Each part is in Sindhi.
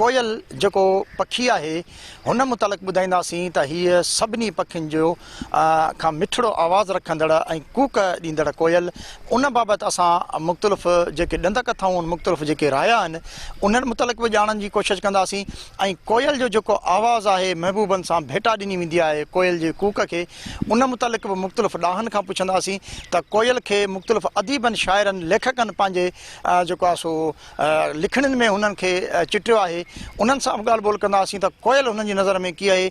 ڪوئل جيڪو پکي آهي هن متعلق ٻڌائينداسين ته هيء سڀني پکين جو کان مٺڙو آواز رکندڙ ۽ ڪوڪ ڏيندڙ ڪوئل ان بابت اسان مختلف جيڪي ڏند ڪٿائون ان مختلف جيڪي رايا آهن انهن متعلق به ڄاڻڻ جي ڪوشش ڪنداسين ۽ ڪوئل جو جيڪو آواز آهي محبوبن سان ڀيٽا ڏني ويندي آهي ڪوئل جي ڪوڪ کي ان متعلق به مختلف ڏاهن کان پڇنداسين ته ڪوئل کي مختلف اديبن شاعرن ليکڪن پنهنجي جيڪو آهي سو لکڻين ۾ هنن کي چٽيو آهي. انهن سان به ڳالهه ٻولهه ڪنداسين ته ڪوئل هنن جي نظر ۾ ڪي آهي.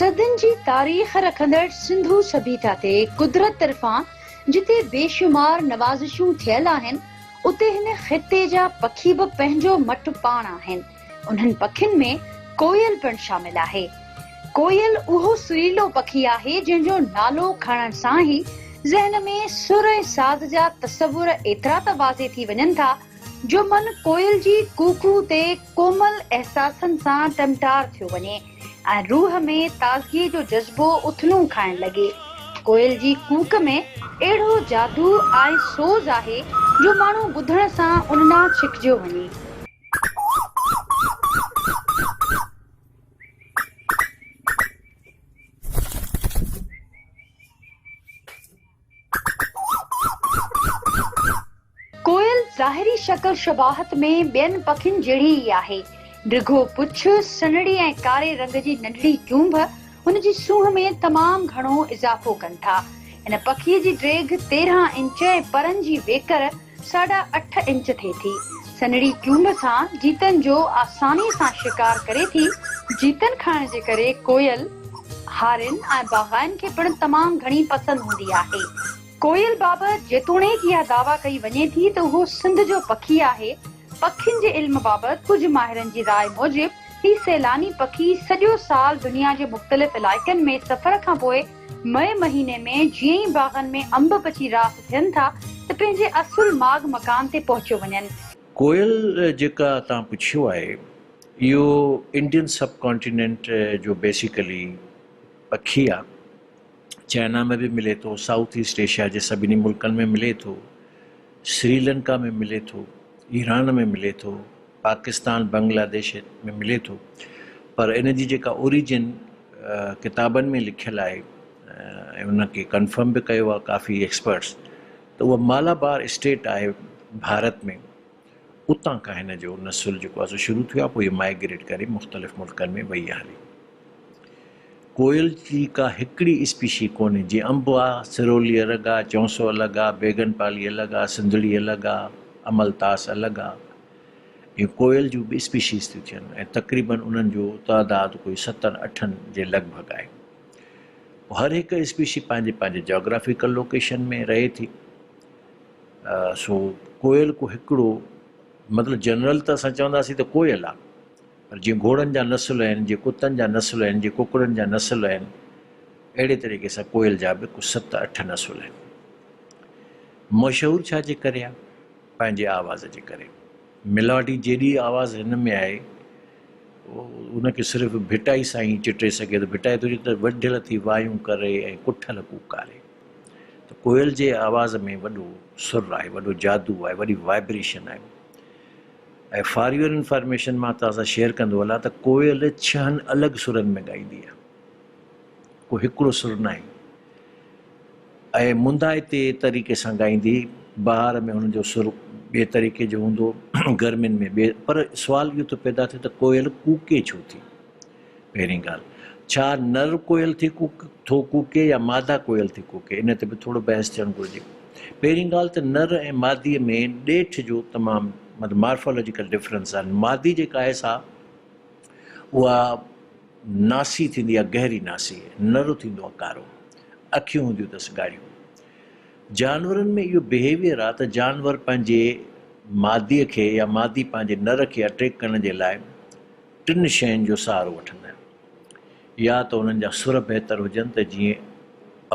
صدين جي تاريخ رکندڙ سنڌو سڀيتا تي قدرت طرفان جتي بيشمار نوازشون ٿيل آهن، اتي هن خطي جا پکي به پنهنجو مٽ پاڻ آهن. انهن پکين ۾ ڪوئل پڻ شامل آهي. ڪوئل اهو سريلو پکي آهي جنهن جو نالو کڻڻ سان ئي ذهن ۾ سر ۽ ساز جا تصور ايترا ته واضح ٿي وڃن ٿا جو من ڪوئل جي ڪوڪو تي ڪومل احساسن سان ٽمٽار ٿيو وڃي ۽ روح ۾ تازگي جو جذبو اٿلون کائڻ لڳي. ڪوئل جي ڪوڪ ۾ اهڙو جادو ۽ سوز آهي جو ماڻهو ٻڌڻ سان ان ڏانهن ڇڪجيو وڃي. ڪوئل ظاهري شڪل شباهت ۾ ٻين پکين جهڙي ئي آهي. ڊگهو پڇ، سنهڙي ۽ ڪاري رنگ جي ننڍڙي چونڀ هن جي سونهن ۾ تمام گهڻو اضافو ڪن ٿا. هن پکيء جي ڊيگهه تيرهن انچ ۽ پرن جي ويڪر ساڍا اٺ انچ ٿئي ٿي. سنهڙي چونب سان جيتن جو آساني سان شڪار ڪري ٿي. جيتن کائڻ جي ڪري ڪوئل، هارين ۽ باگائن کي پڻ تمام گهڻي پسند هوندي آهي. ڪوئل بابت جيتوڻيڪ اها دعويٰ ڪئي وڃي ٿي ته اهو سنڌ جو پکي آهي. پکين جي علم بابت ڪجهه ماهرن جي راء موجب هي سيلاني پکي سڄو سال دنيا جي مختلف علائقن ۾ سفر کان پوء مئي مهيني ۾ جيئن ئي باغن ۾ انب پچي راس ٿين ٿا ته پنهنجي اصل ماڳ مڪان تي پهچيو وڃن. ڪوئل جيڪا تان پڇيو آهي اهو انڊين سب ڪانٽيننٽ جو بيسيڪلي پکي آ چائنا ۾ به ملي ٿو سائوٿ ايسٽ ايشيا جي سڀني ملڪن ۾ ملي ٿو سريلنڪا ۾ ملي ٿو ايران ۾ ملي ٿو. پاڪستان بنگلاديش ۾ ملي ٿو پر ان جي جيڪا اوريجن ڪتابن ۾ لکيل آهي ۽ ان کي ڪنفرم به ڪيو آهي ڪافي ايڪسپرٽس ته اها مالابار اسٽيٽ آهي ڀارت ۾ اتان کان هن جو نسل جيڪو آهي سو شروع ٿيو آهي پوء هي مائگريٽ ڪري مختلف ملڪن ۾ وئي آهي هلي ڪوئل جي ڪا هڪڙي اسپيشي ڪونهي، جيئن انب آ، سرولي الڳ آ، چونسو الڳ آ، بيگن پالي الڳ آ، سنڌڙي الڳ آ، امل تاس الڳ آ. ايئن ڪوئل جون به اسپيشيز ٿيون ٿين ۽ تقريبن انهن جو تعداد ڪوئي ستن اٺن جي لڳ ڀڳ آهي. پوء هر هڪ اسپيشي پنهنجي پنهنجي جاگرافيڪل لوڪيشن ۾ رهي ٿي. سو ڪوئل ڪو هڪڙو مطلب جنرل ته اسان چونداسين ته ڪوئل آ. پر جيئن گهوڙن جا نسل آهن، جيئن ڪتن جا نسل آهن، جيئن ڪڪڙن جا نسل آهن، اهڙي طريقي سان ڪوئل جا به ڪو ست اٺ نسل آهن. مشهور ڇا جي ڪري آهي؟ پنهنجي آواز جي ڪري. ميلاڊي جيڏي آواز هن ۾ آهي، ان کي صرف ڀٽائي سائين ئي چٽي سگهي ٿو. ڀٽائي ٿو چئي ته وڍيل ٿي وايون ڪري ۽ ڪٺل ڪوڪاري. ته ڪوئل جي آواز ۾ وڏو سر آهي، وڏو جادو آهي، وڏي وائبريشن آهي. ۽ فار يور انفارميشن مان توهان سان شيئر ڪندو هلان ته ڪوئل ڇهن الڳ سرن ۾ ڳائيندي آهي ڪو هڪڙو سر ناهي ۽ منڌائتي طريقي سان ڳائيندي بهار ۾ هن جو سر ٻئي طريقي جو هوندو گرمين ۾ ٻئي پر سوال اهو ٿو پيدا ٿئي ته ڪوئل ڪوڪي ڇو ٿي؟ پهرين ڳالهه، ڇا نر ڪوئل ٿي ڪوڪ ٿو ڪوڪي يا مادا ڪوئل ٿي ڪوڪي، ان تي به ٿورو بحث ٿيڻ گهرجي. پهرين ڳالهه ته نر ۽ مادي ۾ ڏيٺ جو تمام مطلب مارفالاجيڪل ڊفرنس آهن. مادي جيڪا آهي سا اها ناسي ٿيندي آهي گهري ناسي، نر ٿيندو آهي ڪارو، اکيون هونديون اٿس ڳاڙهيون. جانورن ۾ اهو بهيويئر آهي ته جانور پنهنجي مادي کي يا مادي پنهنجي نر کي اٽريڪٽ ڪرڻ جي لاء، ٽن شين جو سهارو وٺندا آهن يا ته انهن جا سر بهتر هجن ته جيئن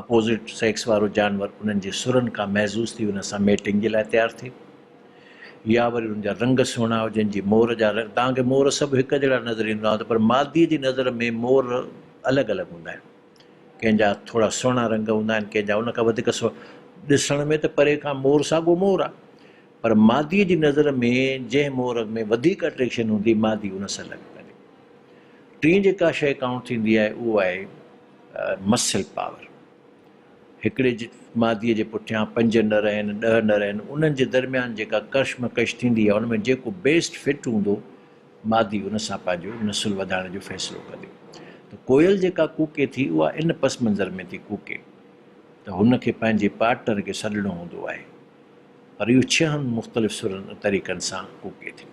اپوزٽ سيڪس وارو جانور انهن جي سرن کان محظوظ ٿي انهن سان ميٽنگ جي لاء تيار ٿئي يا وري انهن جا رنگ سهڻا هجن جي مور جا رنگ توهان کي مور سڀ هڪ جهڙا نظر ايندا هوندا پر مادي جي نظر ۾ مور الڳ الڳ هوندا آهن ڪنهن جا ٿورا سهڻا رنگ هوندا آهن ڪنهن جا ان کان وڌيڪ سهڻا ڏسڻ ۾ ته پري کان مور ساڳو مور آهي پر ماديء جي نظر ۾ جنهن مورڳ ۾ وڌيڪ اٽريڪشن هوندي، مادي ان سان لڳ ڪندي. ٽين جيڪا شيء ڪائونٽ ٿيندي آهي، اهو آهي مسل پاور. هڪڙي ماديء جي پٺيان پنج نر آهن، ڏهه نر آهن، انهن جي درميان جيڪا ڪشمڪش ٿيندي آهي، ان ۾ جيڪو بيسٽ فٽ هوندو، مادي ان سان پنهنجو نسل وڌائڻ جو فيصلو ڪندي. ته ڪوئل جيڪا ڪوڪي ٿي، اها ان پس منظر ۾ ٿي ڪوڪي. ته هن کي پنهنجي پارٽنر کي سڏڻو هوندو آهي پر اهو ڇهن مختلف سرن ۽ طريقن سان ڪوڪي ٿيو.